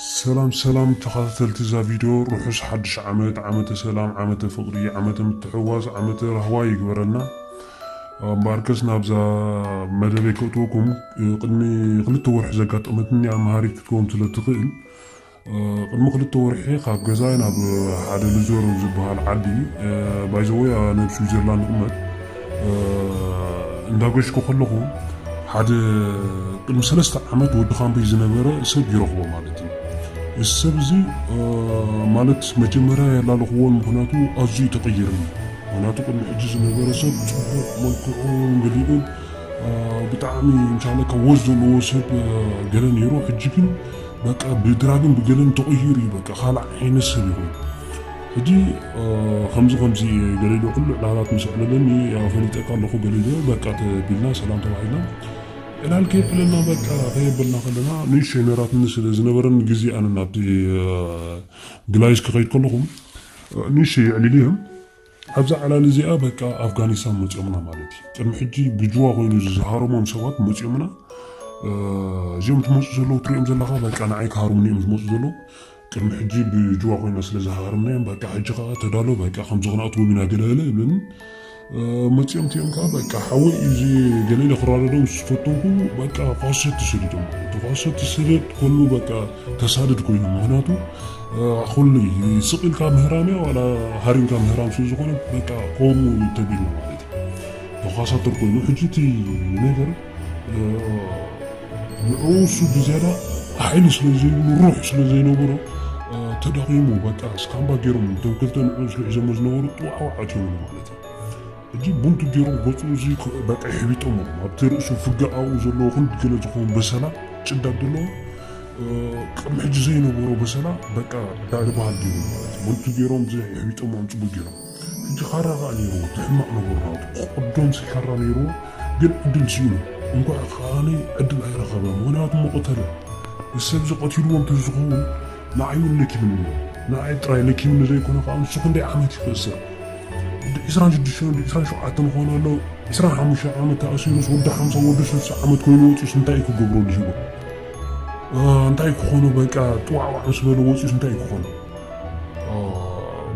ሰላም ሰላም ተኻታተልቲ እዛ ቪድዮ ርሑስ ሓድሽ ዓመት ዓመተ ሰላም ዓመተ ፍቕሪ ዓመተ ምትሕዋስ ዓመተ ራህዋ ይግበረና እምበኣርከስ ናብዛ መደበይ ከእትወኩም ቅድሚ ክልተ ወርሒ ዘጋጠመትኒ ኣምሃሪት ክትከውን ስለ ትኽእል ቅድሚ ክልተ ወርሒ ካብ ገዛይ ናብ ሓደ ልዞር ኣብ ዝበሃል ዓዲ ባይዘወይ ኣነ ኣብ ስዊዘርላንድ ይቕመጥ እንዳገሽኩ ከለኹ ሓደ ቅድሚ ሰለስተ ዓመት ወዲ ካምበይ ዝነበረ ሰብ ይረኽቦ ማለት እዩ እዚ ሰብ እዚ ማለት መጀመርያ ያላለኽዎ ምክንያቱ ኣዝዩ ተቐይርኒ ምክንያቱ ቅድሚ ሕጂ ዝነበረ ሰብ ፅቡቕ መልክዑን ገሊኡን ብጣዕሚ እንሻለካ ወዝ ዘለዎ ሰብ ገለ ነይሩ ሕጂ ግን በቃ ብድራግን ብገለን ተቐይሩ እዩ በቃ ካልእ ዓይነት ሰብ እዩ ኮይኑ ሕጂ ከምዚ ከምዚ ገለ ኢሉ ኩሉ ዕላላት ምስ ኣዕለለኒ ያው ፈሊጠካ ኣለኹ ገለ ኢሉ በቃ ተቢልና ሰላም ተባሂልና ዕላል ከየዕለልና በቃ ከየበልና ከለና ንእሽተይ ሜራትኒ ስለ ዝነበረኒ ግዜ ኣነ ናብቲ ግላይስ ክኸይድ ከለኹ ንእሽተይ የዕሊሉ እዮም ኣብዛ ዕላል እዚኣ በቃ ኣፍጋኒስታን መጺኦምና ማለት እዩ። ቅድሚ ሕጂ ብጅዋ ኮይኑ ዝሃረሞም ሰባት መጺኦምና እዚኦም ትመጹ ዘለዉ ትሪኦም ዘለኻ በቃ ንዓይ ክሃርሙኒ እዮም ዝመጹ ዘለዉ ቅድሚ ሕጂ ብጅዋ ኮይና ስለ ዝሃርምናዮም በቃ ሕጂ ከዓ ተዳሎ በቃ ከምዚ ክንኣትዎም ኢና ገለገለ ይብለኒ መጺኦም እቲኦም ከዓ በቃ ሓወይ እዩ እዚ ገለለ ክራደዶም ዝፈተንኩ በቃ ኳሰቲ ሰዲዶም እቲ ኳሰቲ ሰደድ ከሉ በቃ ተሳድድ ኮይኑ ምክንያቱ ኩሉ እዩ ስቅ ኢልካ ምህራም እያ ዋላ ሃሪምካ ምህራም ስለ ዝኾነ በቃ ከምኡ ተቢሉ ማለት እዩ ተኳሳተር ኮይኑ ሕጂ እቲ ነገር ንዕኡ እሱ ብዝያዳ ሓይሊ ስለ ዘይብሉ ሩሕ ስለ ዘይነበሮ ተዳኺሙ በቃ እስካምባ ገይሮም እቶም ክልተ ንዕኡ ዝሕዘሞ ዝነበሩ ጥዋዕዋዕ ኣትዮምሉ ማለት እዩ ሕጂ ቡንቱ ጌሮም ገጹ እዚ በቃ የሕቢጦሞ ኣብቲ ርእሱ ፍጋኣኡ ዘለዎ ክንድ ገለ ዝኸውን በሰላ ጭዳድ ደለዎ ቅድሚ ሕጂ ዘይነበሮ በሰላ በቃ ባዕዲ ባህል ጌሮም ማለት እዩ ቡንቱ ጌሮም እዚ የሕቢጦሞ ኣንጽጉ ጌሮም ሕጂ ኻራ ኻኣ ኔርዎ እቲ ሕማቅ ነበሩ ናቱ ክቅዶም ኻራ ኔርዎ ግን ዕድል ሲኢኑ እንኳዕ ኻኣ ዕድል ኣይረኸበ ምኽንያቱ ምቅተለ እዚ ሰብዚ ቀቲልዎ እንተዝኸውን ንዓይውን ለኪምኒዮ ንዓይ ጥራይ ለኪምኒ ዘይኮነ ከኣ ንሱ ክንደይ ዓመት እዩ ክእሰር ወዲ ዕስራን ሽዱሽተን ወዲ ዕስራን ሸውዓተን ይኾን ኣሎ ዕስራን ሓሙሽተን ዓመት ተኣሲሩስ ወዲ ሓምሳን ወዲ ስልሳን ዓመት ኮይኑ ወጺኡስ እንታይ እዩ ክገብረሉ ሂወ እንታይ ክኾኖ በቃ ጥዋዕዋዕ ምስ በለ ወጺኡስ እንታይ እዩ ክኾኖ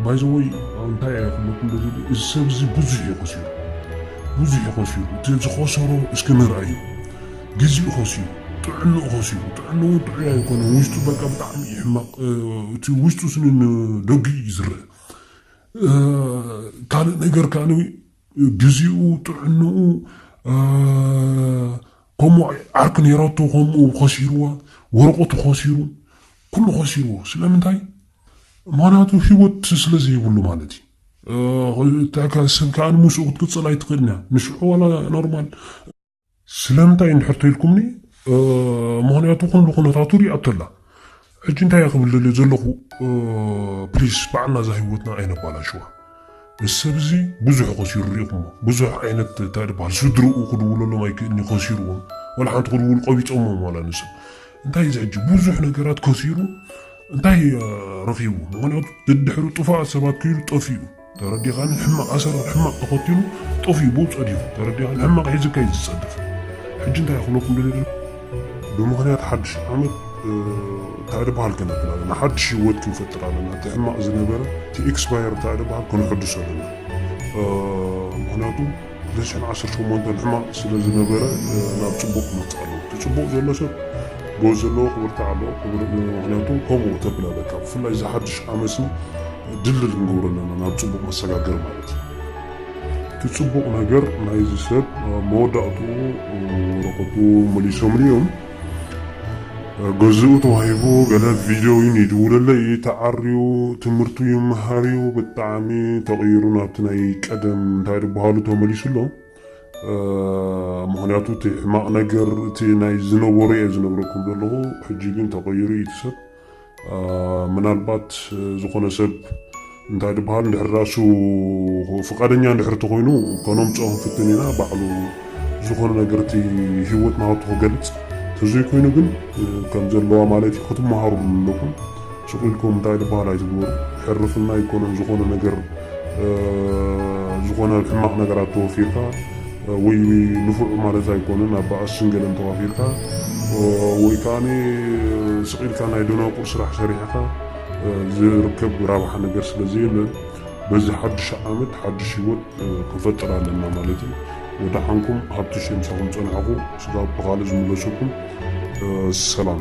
ባይዘወይ እንታይ ኣይክለኩም በዚ እዚ ሰብ እዚ ብዙሕ እዩ ከሲሩ ብዙሕ እዩ ከሲሩ እቲ ዝኸሰሮ እስኪ ንርኣዩ ግዚኡ ከሲሩ ጥዕንኡ ከሲሩ ጥዕንኡ ጥዑይ ኣይኮነን ውሽጡ በቃ ብጣዕሚ እዩ ሕማቕ እቲ ውሽጡ ስኒ ንደጊኡ እዩ ዝረአ ካልእ ነገር ከኣ ግዚኡ ጥዕንኡ ከምኡ ዓርኪ ነይራቶ ከምኡ ከሲርዋ ወረቐቱ ከሲሩ ኩሉ ከሲርዎ ስለምንታይ ምክንያቱ ሂወት ስለ ዘይብሉ ማለት እዩ እንታይ ሰብ ከዓ ንምስኡ ክትቅፅል ኣይትኽእልን እያ ንሽዑ ዋላ ኖርማል ስለምንታይ እንድሕር ተኢልኩምኒ ምኽንያቱ ኩሉ ኩነታቱ ሪኣቶ ኣላ ሕጂ እንታይ እየ ክብል ደልየ ዘለኹ ፕሊስ ባዕልና እዛ ህይወትና ኣይነባላሽዋ እዚ ሰብ እዚ ብዙሕ ከሲሩ ሪኢኹሞ ብዙሕ ዓይነት እንታይ ድበሃል ስድርኡ ክድውለሎም ኣይክእልኒ ከሲርዎም ዋላ ሓንቲ ክድውል ቆቢፆሞም ዋላ ንሰብ እንታይ እዚ ሕጂ ብዙሕ ነገራት ከሲሩ እንታይ ረኺቡ ምክንያቱ ድድሕሪ ጥፋእ ሰባት ክኢሉ ጠፊኡ ተረዲኻኒ ሕማቕ ኣሰር ኣብ ሕማቕ ተኸቲሉ ጠፊኡ ብኡ ጸዲፉ ተረዲኻኒ ሕማቕ ሒዙ ከይት ዝጸድፍ ሕጂ እንታይ ክብለኩም ደልየ ደለኹ ብምኽንያት ሓድሽ ዓመት ታዕደ ባህል ከነብል ኣለና ሓድሽ ህይወት ክንፈጥር ኣለና እቲ ሕማቕ ዝነበረ እቲ ኤክስፓየር ታዕደ ባህል ከነሐድሶ ኣለና ምክንያቱ ዘሽሕን ዓሰርተ ሸሞንተን ሕማቕ ስለ ዝነበረ ናብ ጽቡቕ ክመጽእ ኣለዎ እቲ ጽቡቕ ዘሎ ሰብ ጎዝ ዘለዎ ክብርታዕ ኣለዎ ክብር ምክንያቱ ከምኡ ተብል ኣለካ ብፍላይ እዚ ሓድሽ ዓመሲ ድልድል ክንገብሮ ኣለና ናብ ጽቡቕ መሰጋገር ማለት እዩ እቲ ጽቡቕ ነገር ናይዚ ሰብ መወዳእትኡ ወረቐቱ መሊሶምሉ እዮም ገዝኡ ተዋሂቡ ገለ ቪድዮ ውን ይድውለለይ እዩ ተዓርዩ ትምህርቱ ይመሃር እዩ ብጣዕሚ ተቀይሩ ናብቲ ናይ ቀደም እንታይ ድበሃሉ ተመሊሱ ኣሎ ምክንያቱ እቲ ሕማቅ ነገር እቲ ናይ ዝነበሮ እየ ዝነግረኩም ዘለኩ ሕጂ ግን ተቀይሩ እዩ እቲ ሰብ ምናልባት ዝኾነ ሰብ እንታይ ድበሃል ድሕር ራሱ ፍቃደኛ ድሕር ተኾይኑ ከነምፅኦ ክንፍትን ኢና ባዕሉ ዝኾነ ነገር እቲ ህይወት ናቱ ክገልፅ ተዘይኮይኑ ግን ከም ዘለዋ ማለት እዩ ክትመሃሩ ኣለኹም ሱቅ ኢልኩም እንታይ ድበሃል ኣይትግበሩ ሕርፍና ኣይኮነን ዝኾነ ነገር ዝኾነ ሕማቅ ነገራት ተወፊርካ ወይ ንፉዕ ማለት ኣይኮነን ኣብ ባኣስን ገለን ተዋፊርካ ወይ ከኣ ስቅ ኢልካ ናይ ደናቁር ስራሕ ሰሪሕኻ ዝርከብ ራብሓ ነገር ስለ ዘየለ በዚ ሓዱሽ ዓመት ሓዱሽ ሂወት ክንፈጥር ኣለና ማለት እዩ ወዳሓንኩም ሃብትሽ የምሳኹም ጸናሕኩ ስጋብ ብኻልእ ዝምለሰኩም ሰላም።